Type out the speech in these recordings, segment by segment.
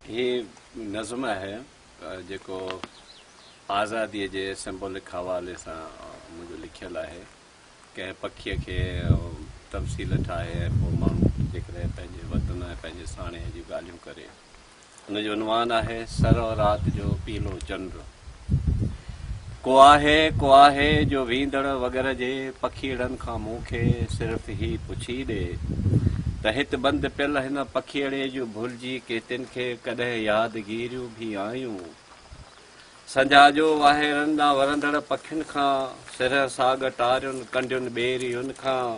هي نظم آهي جيڪو آزاديء جي سمبولڪ حوالي سان منهنجو لکيل آهي. ڪنهن پکيء کي تمثيل ٺاهي ۽ پوء ماڻهو جيڪڏهن پنهنجي وطن ۽ پنهنجي ساڻيهه جون ڳالهيون ڪري. ان جو عنوان آهي سر و رات جو پيلو چنڊ. ڪو آهي ڪو آهي جو ويندڙ وڳر جي پکيئڙن کان مون کي صرف هي پڇي ڏي ته هت بند پيل هن پکيئڙي جون ڀلجي ڪيتين کي ڪڏهن ياد گيريون ڀي آيون؟ سنجا جو واهيرن ڏانهن ورندڙ پکين کان، سرهه ساڳ ٽارين ڪنڊين ٻيري ان کان،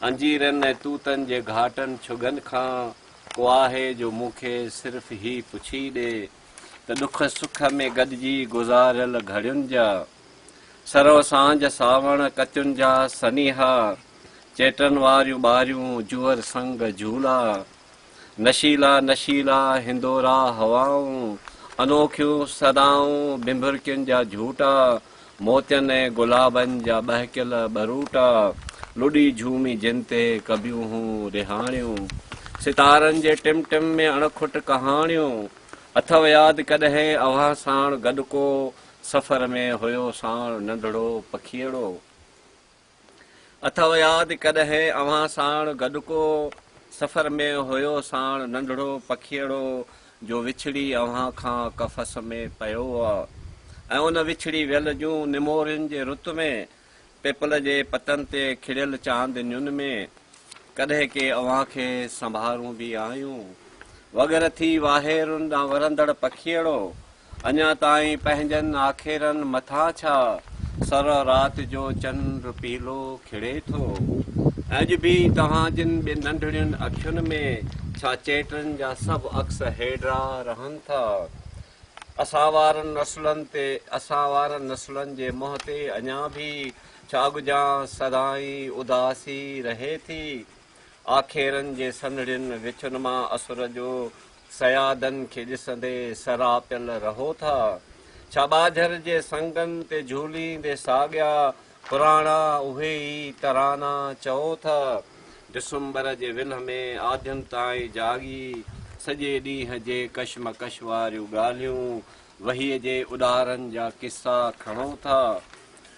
انجيرن ۽ توتن جي گهاٽن ڇڳن کان، ڪو آهي جو مون کي صرف هي پڇي ڏي. ته ڏک سک ۾ گڏجي گذاريل گهڙين جا سرو سانجهه ساوڻ ڪچن جا سنيها چيٽن واريون ٻاريون جوئر سنگ جهولا نشيلا نشيلا هندورا هوائون انوکيون صدائون بنڀرڪين جا جهوٽا موتين ۽ گلابن جا ٻهڪيل ٻروٽا لڏي جهومي جن تي ڪبيون هون رهاڻيون. ستارن جي ٽم ٽم ۾ اڻکٽ ڪهاڻيون. اٿئو ياد ڪڏهن اوهان ساڻ گڏ ڪو سفر ۾ هيو ساڻ ننڍڙو پکيئڙو. اٿئو ياد ڪڏهن اوهان ساڻ گڏ ڪو سفر ۾ هيو ساڻ ننڍڙو پکيئڙو جو وڇڙي اوهان کان قفس ۾ پيو هئا ۽ ان وڇڙي ويل جون نمورين جي رت ۾ پيپل جي پتن تي کڙيل چاندنين ۾ ڪڏهن ڪي اوهان کي سنڀارون به آهيون. وڳر ٿي واهيرن ڏانهن ورندڙ پکيئڙو، اڃا تائين پنهنجن آکيرن مٿان ڇا، سر رات جو چنڊ پيلو کڙي ٿو؟ اڄ به توهان جن ٻن ننڍڙين اکين ۾ ڇا چيٽن جا سڀ عڪس هيڊرا رهن ٿا؟ اسان وارن نسلن تي اسان وارن نسلن جي منهن تي اڃا به ڇا ڳجهان سدائين اداسي رهي ٿي. آکيرن جي سنهڙين وڇن مان اسر جو صيادن کي ڏسندي سراپيل رهو ٿا. ڇا ٻاجهر جي سنگن تي جهوليندي ساڳيا پراڻا اهي ئي ترانا چئو ٿا. ڊسمبر جي ولهه ۾ آڌين تائين جاڳي سڄي ڏينهن جي ڪشمڪش واريون ڳالهيون، وهيء جي اڏارن جا قصا کڻو ٿا.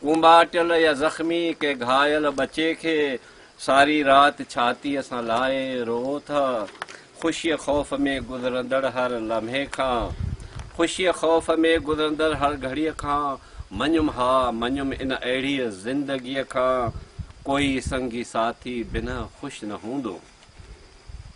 ڪنباٽل يا زخمي ڪنهن گهايل ٻچي کي ساري رات ڇاتيء سان لائي روئو ٿا. خوشيء خوف ۾ گذرندڙ هر لمحي کان خوشيء خوف ۾ گذرندڙ هر گهڙيء کان مڃيم ها مڃيم ان اهڙيء زندگيء کان ڪوئي سنگي ساٿي بنهه خوش نه هوندو.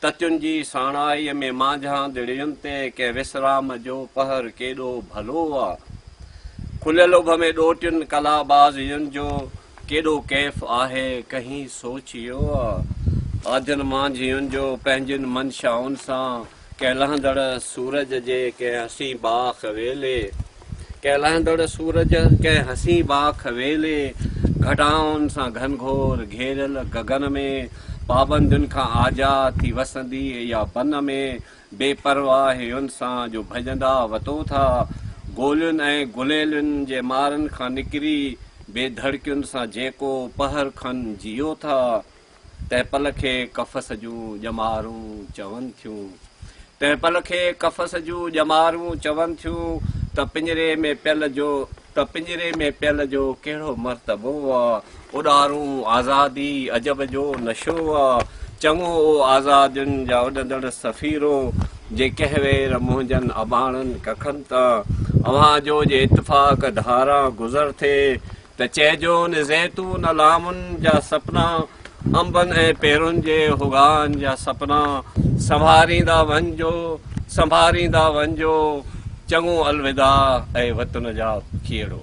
تتين جي ساڻائيء ۾ مانجهان دڙين تي ڪنهن وسرام جو پهر ڪيڏو ڀلو آ. کليل اڀ ۾ ڏوهٽين ڪلابازين جو ڪيڏو ڪيف آهي، ڪنهين سوچيو آ؟ آڌين مانجهين جو پنهنجين منشائن سان ڪنهن لهندڙ سورج جي ڪنهن حسين باغ ويلي ڪهلائيندڙ سورج ڪنهن حسين باک ويلي گهٽائن سان گهنگهور گهيريل گگن ۾ پابندين کان آزاد ٿي وسندي يا بن ۾ بي پرواهين سان جو ڀڄندا وتو ٿا گولين ۽ گليلن جي مارن کان نڪري بي ڌڙڪين سان جيڪو پهر کن جيئو ٿا. تنهن پل کي قفس جون ڄمارون چون ٿيون تنهن پل کي قفس جون ڄمارون چون ٿيون ته پڃري ۾ پيل جو ته پڃري ۾ پيل جو ڪهڙو مرتبو آ اڏارون آزادي عجب جو نشو آ چڱو او آزادين جا اڏندڙ سفيرو جي ڪنهن وير منهنجن اباڻن ڪکن تان اوهان جو جي اتفاق ڌاران گذر ٿئي ته چئجو ان زيتون الامن جا سپنا، انبن ۽ پيرن جي هوغان جا سپنا، سنڀاريندا وڃجو، سنڀاريندا وڃجو، چڱو الوداع اي وطن جا کيڙو.